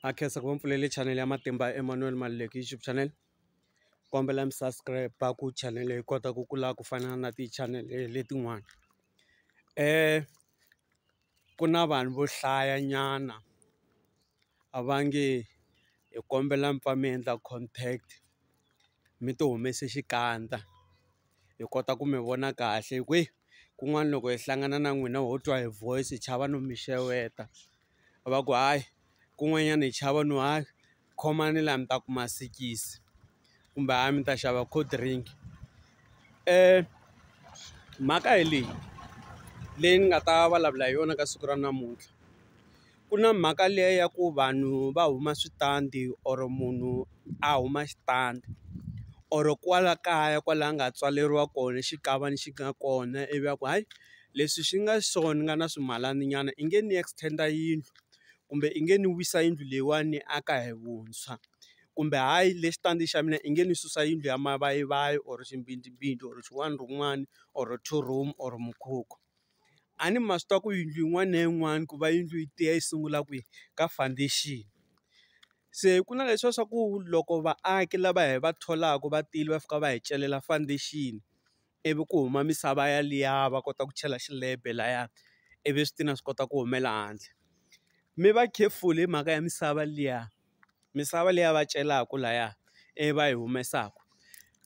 ha khensa ku va mi pfulele chanele ya matimba ya Emmanuel Maluleke YouTube channel kombela mi subscribe ku chanele yi kota ku kula ku fana na ti-channel letin'wana ku na vanhu vo hlaya nyana a va nge hi kombela mi pfa mi endla contact mi ti humese xikandza. hi kota ku mi vona kahle hi ku he kun'wana loko hi hlangana na n'wina ho twa hi voice hi chava no mi xeweta va ku hayi kun'wanyana hi chava no hayi khomani la mi ta kuma sikisi kumbe hayi mi ta xava cold drink mhaka hi leyi leyi ni nga ta vulavula hi yona ka siku ra namuntlha. ku na mhaka liya ya ku vanhu va huma switandi or munhu a huma xitandi or kwala kaya kwala a nga tswaleriwa kona xikavana xi nga kona ivi a ku hayi leswi swi nga so ni nga na swimalana nyana i nge ni extend-a yindlu kumbe i nge ni wisa yindlu leyiwani ni aka hi vuntshwa kumbe hayi le xitandi xa mina i nge ni susa yindlu ya mavayivayi or ximbindzimbindzi or xin'wana na xin'wana or two room or mukhukhu. A ni ma swi tiva ku yindlu yin'wana na yin'wana ku va yindlu yi tiya yi sungula kwihi ka foundation. Se ku na leswiya swa ku loko vaaki lava hi va tholaka va tile va fika va hi celela foundation ivi ku huma misava yaliya va kota ku chela xilebe laya ivi switina swi kota ku humela handle. Mi va careful hi mhaka ya misava liya. misava leyi a va celaka lahaya ivi va yi humesaka.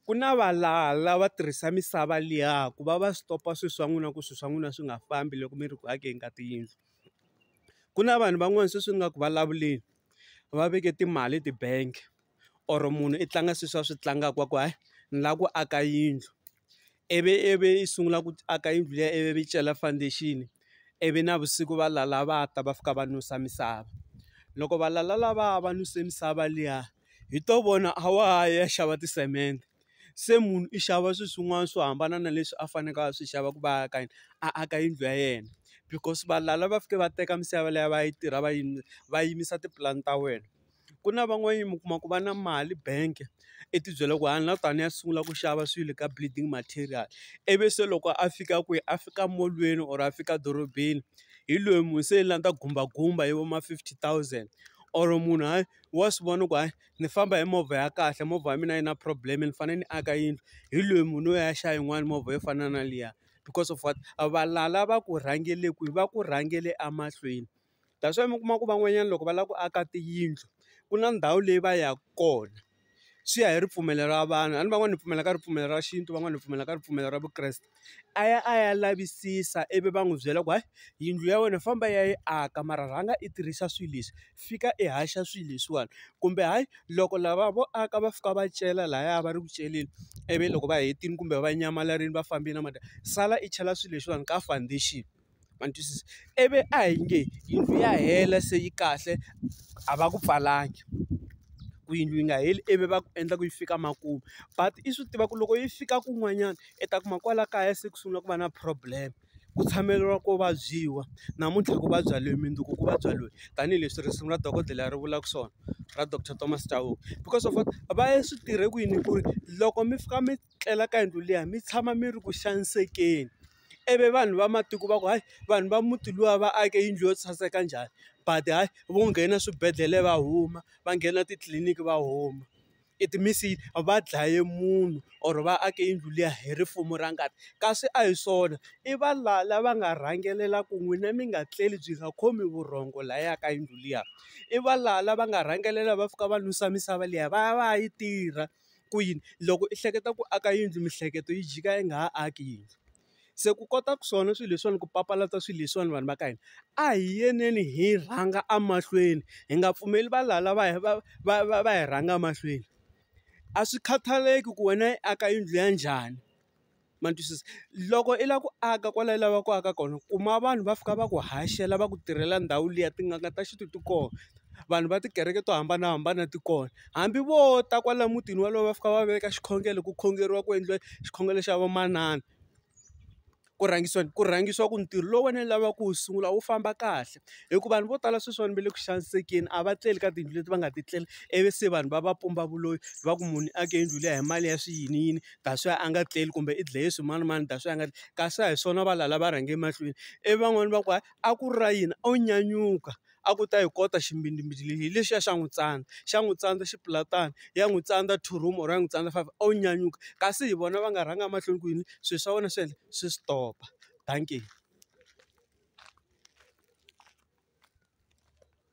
Ku na valala va tirhisa misava liya ku va va stop-a swilo swa n'wina ku swilo swa n'wina swi nga fambi loko mi ri ku akeni ka tiyindlu. Ku na vanhu van'wana sweswi ni nga ku vulavuleni, va veke timali eti-bank or munhu i tlanga swilo leswi a swi tlangaka wa ku hayi ni lava ku aka yindlu. ivi ivi yi sungula ku aka yindlu liya ivi yi cela foundation ivi navusiku va lala va ta va fika va nusa misava loko va lala lavaya va nuse misava liya hi to vona a wa ha yi ya xava tisemende se munhu i xava swi swin'wana swo hambana na leswi a fanekele a swi xava ku va aka yini a aka yindlu ya yena because valala va fike va teka misava liya va yi tirha va yi va yimisa tipulani ta wena. ku na van'wanyana mi kuma ku va na mali bank i ti byela ku a ni la ku ta ni ya sungula ku xava swilo ka bleeding material, ivi se loko a fika kwihi a fika molweni or a fika dorobeni hi loyi munhu se la ni ta gumbagumba hi vo ma fifty thousand or munhu hayi wa swi vona ku hayi ni famba hi movha ya kahle movha ya mina a yi na problem ni fanele ni aka yindlu hi loyi munhu loyi a ya xava yin'wani movha yo fana na liya because of what a valala va ku rhangele kwihi va ku rhangele emahlweni. That's why mi kuma ku van'wanyana loko va lava ku aka tiyindlu, ku na ndhawu leyi va yaka kona. Swi ya hi ripfumelo ra vanhu, a ni van'wana hi pfumela ka ripfumelo ra xintu van'wana hi pfumela ka ripfumelo ra vukreste. A ya a ya lavisisa ivi va n'wi byela ku hayi yindlu ya wena famba ya yi aka mara rhanga i tirhisa swilo leswi, fika i haxa swilo leswiwani. Kumbe hayi loko lava vo aka va fika va cela lahaya va ri ku celeni, ivi loko va hetile kumbe va nyamalarile va fambile na sala i chela swilo leswiwani ka foundation. ma ni twisisa? Ivi a hi nge yindlu ya hela se yi kahle a va ku pfalanga, ku yindlu yi nga heli ivi va ku endla ku yi fika makumu but i swi tiva ku loko yi fika kun'wanyana i ta kuma kwala kaya se ku sungula ku va na problem, ku tshameriwa ku vabyiwa namuntlha ku vabya loyi mundzuku ku vabya loyi tanihileswi risimu ra dokodela ri vulaka swona ra doctor Thomas Chauke because of what va swi tirhe kwini ku ri loko mi fika mi. tlela ka yindlu liya mi tshama mi ri ku xanisekeni, ivi vanhu va matiko va ku hayi vanhu va muti luwa va ake yindlu yo saseka njhani but hayi vo nghena swibedhlele va huma, va nghena titliliniki va huma. It means va dlaye munhu or va ake yindlu liya hi rifumo ra ngati, kasi a hi swona i valala va nga rhangelela ku n'wina mi nga tleli byi nga khomi vurhongo lahaya ka yindlu liya. I valala va nga rhangelela va fika va nusa misava liya va ya va ya yi tirha. ku yini loko i hleketa ku aka yindlu miehleketo yi jika yi nga ha aki yindlu. Se ku kota ku swona swilo leswiwani ku papalata swilo leswiwani vanhu va ka hina a hi yeneni hi rhanga emahlweni hi nga pfumeli valala va va va va va hi rhanga emahlweni a swi khathaleki ku wena i aka yindlu ya njhani. ma ni twisisa? Loko i lava ku aka kwala i lavaka ku aka kona kuma vanhu va fika va ku haxela va ku tirhela ndhawu liya, tin'anga ta xintu ti kona, vanhu va tikereke to hambanahambana ti kona. Hambi vo ta kwala mutini wolowo va fika va veka xikhongelo ku khongeriwa ku endliwa xikhongelo xa vamanana, ku rhangisiwa ku rhangisiwa ku ntirho lowu wena u lavaka ku wu sungula wu famba kahle. Hi ku vanhu vo tala sweswiwani va le ku xanisekeni a va tleli ka tiyindlu leti va nga ti tlela ivi se vanhu va va pumba vuloyi va ku munhu i ake yindlu liya hi mali ya swi yini yini. ta swi a nga tleli kumbe i dleye swimanimani ta swi a nga kasi a hi swona va lala va rhange emahlweni ivi van'wani va ku hayi a ku ri ra yini o nyanyuka a ku ta yi kota ximbidimbidi lexi hi lexiya xa n'wi tsandza xa n'wi tsandza xi pfula tano ya n'wi tsandza two room or ya n'wi tsandza five o nyanyuka kasi hi vona va nga rhanga emahlweni ku yini swilo swa wena swi endla swi stop dankie.